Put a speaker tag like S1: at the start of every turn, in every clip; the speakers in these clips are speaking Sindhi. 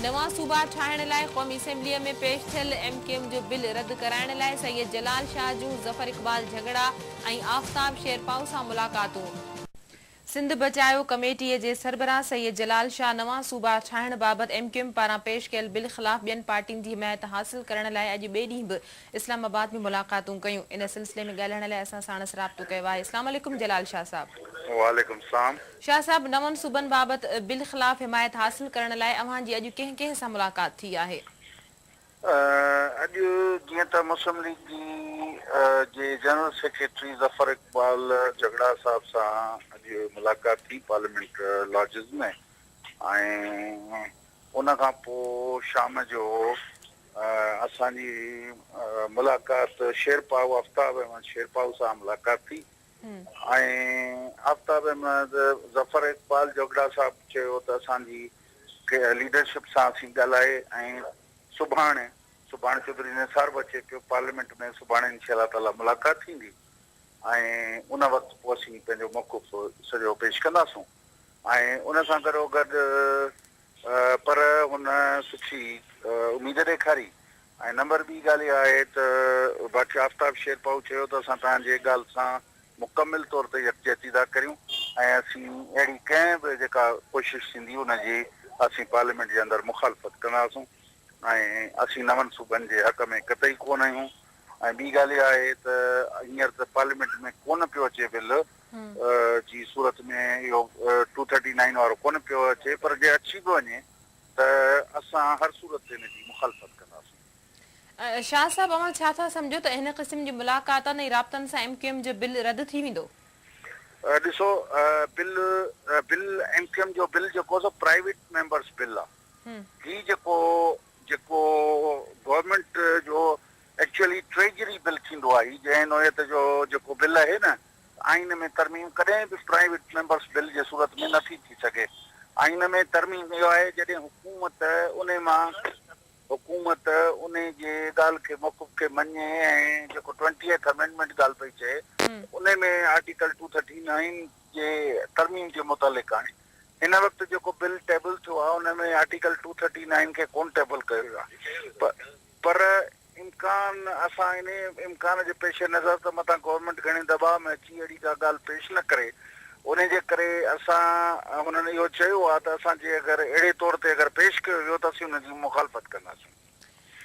S1: نوان صوبا ٺاهڻ لاء قومي اسيمبليء ۾ پيش ٿيل ايم ڪيو ايم جو بل رد ڪرائڻ لاء سيد جلال شاهه جون ظفر اقبال جهڳڙا ۽ آفتاب شيرپائو سان ملاقاتون. سنڌ بچايو ڪميٽيء جي سربراهه سيد جلال شاهه نوان صوبا ٺاهڻ بابت ايم ڪيو ايم پاران پيش ڪيل بل خلاف ٻين پارٽين جي حمايت حاصل ڪرڻ لاء اڄ ٻئي ڏينهن به اسلام آباد ۾ ملاقاتون ڪيون. ان سلسلي ۾ ڳالهائڻ لاء اسان ساڻس رابطو ڪيو آهي. اسلام عليڪم جلال شاهه صاحب. وعليڪم السلام.
S2: شاهه صاحب نون
S1: صوبن بابت بل خلاف حمايت حاصل ڪرڻ لاء اوهان جي اڄ ڪنهن ڪنهن سان ملاقات ٿي آهي؟
S2: اڄ جيئن ته مسلم ليگ جي جي جنرل سيڪريٽري ظفر اقبال جهڳڙا صاحب سان اڄ ملاقات ٿي پارليامينٽ لاجز ۾ ۽ ان کان پو شام جو اسان جي ملاقات شيرپائو آفتاب احمد شيرپائو سان ملاقات ٿي ۽ آفتاب احمد، ظفر اقبال جوڳڙا صاحب چيو ته اسان جي ليڊرشپ سان اسين ڳالهائي ۽ سڀاڻي سڀاڻي چوڌري نثار به اچي پيو پارليامينٽ ۾ سڀاڻي انشاء الله تعاليٰ ملاقات ٿيندي ۽ ان وقت پوء اسين پنهنجو موقف سڄو پيش ڪنداسون ۽ ان سان گڏو گڏ پر هن سٺي اميد ڏيکاري ۽ نمبر ٻي ڳالهه اها آهي ته باقي آفتاب شيرپائو چيو ته اسان توهان جي ڳالهه سان مڪمل طور تي يڪجهتي ٿا ڪريون ۽ اسين اهڙي ڪنهن به جيڪا ڪوشش ٿيندي ان جي اسين پارليامينٽ جي اندر مخالفت ڪنداسون ۽ اسين نون صوبن جي حق ۾ قطعي ڪونه آهيون ۽ ٻي ڳالهه اها آهي ته هينئر ته پارليامينٽ ۾ ڪونه پيو اچي بل جي صورت ۾ اهو ٽو ٿرٽي نائين وارو ڪونه پيو اچي پر جي اچي به وڃي ته اسان هر صورت تي ان جي مخالفت ڪنداسين. شاهه صاحب اوهان
S1: ڇا ٿا سمجهو ته هن قسم جي ملاقاتن ۽ رابطن سان ايم ڪيو ايم جو بل رد ٿي ويندو؟ ڏسو
S2: bill bill M Q M جو بل جيڪو سو پرائيويٽ ميمبرس بل آ هي جيڪو جيڪو گورنمينٽ جو ايڪچوئلي ٽريجري بل ٿيندو آ هي جنهن نوعيت جو جيڪو بل اهي نه آئين ۾ ترميم ڪڏهن به پرائيويٽ ميمبرس بل جي صورت ۾ نه ٿي ٿي سگهي. آئين ۾ ترميم اهو آهي جڏهن حڪومت انهي مان حڪومت انهي جي ڳالهه کي موقف کي مڃي ۽ جيڪو ٽوئنٽيهٿ امينڊمينٽ ڳالهه پئي چئي انهي ۾ آرٽيڪل ٽو ٿرٽي نائين جي ترميم جي متعلق آڻي. هن وقت جيڪو بل ٽيبل ٿيو آهي ان ۾ آرٽيڪل ٽو ٿرٽي نائين کي ڪونه ٽيبل ڪيو ويو آهي. پر امڪان اسان انهي امڪان جي پيش نظر ته متان گورنمينٽ گهڻي دٻاء ۾ اچي اهڙي ڪا ڳالهه پيش نه ڪري انهي جي ڪري اسان هنن اهو چيو آهي ته اسان جي اگر اهڙي طور تي اگر پيش ڪيو ويو ته اسين ان جي مخالفت ڪنداسين.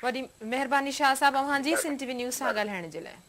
S1: وڏي مهرباني شاهه صاحب اوهان جي سنڌ ٽي وي نيوز سان ڳالهائڻ جي لاء.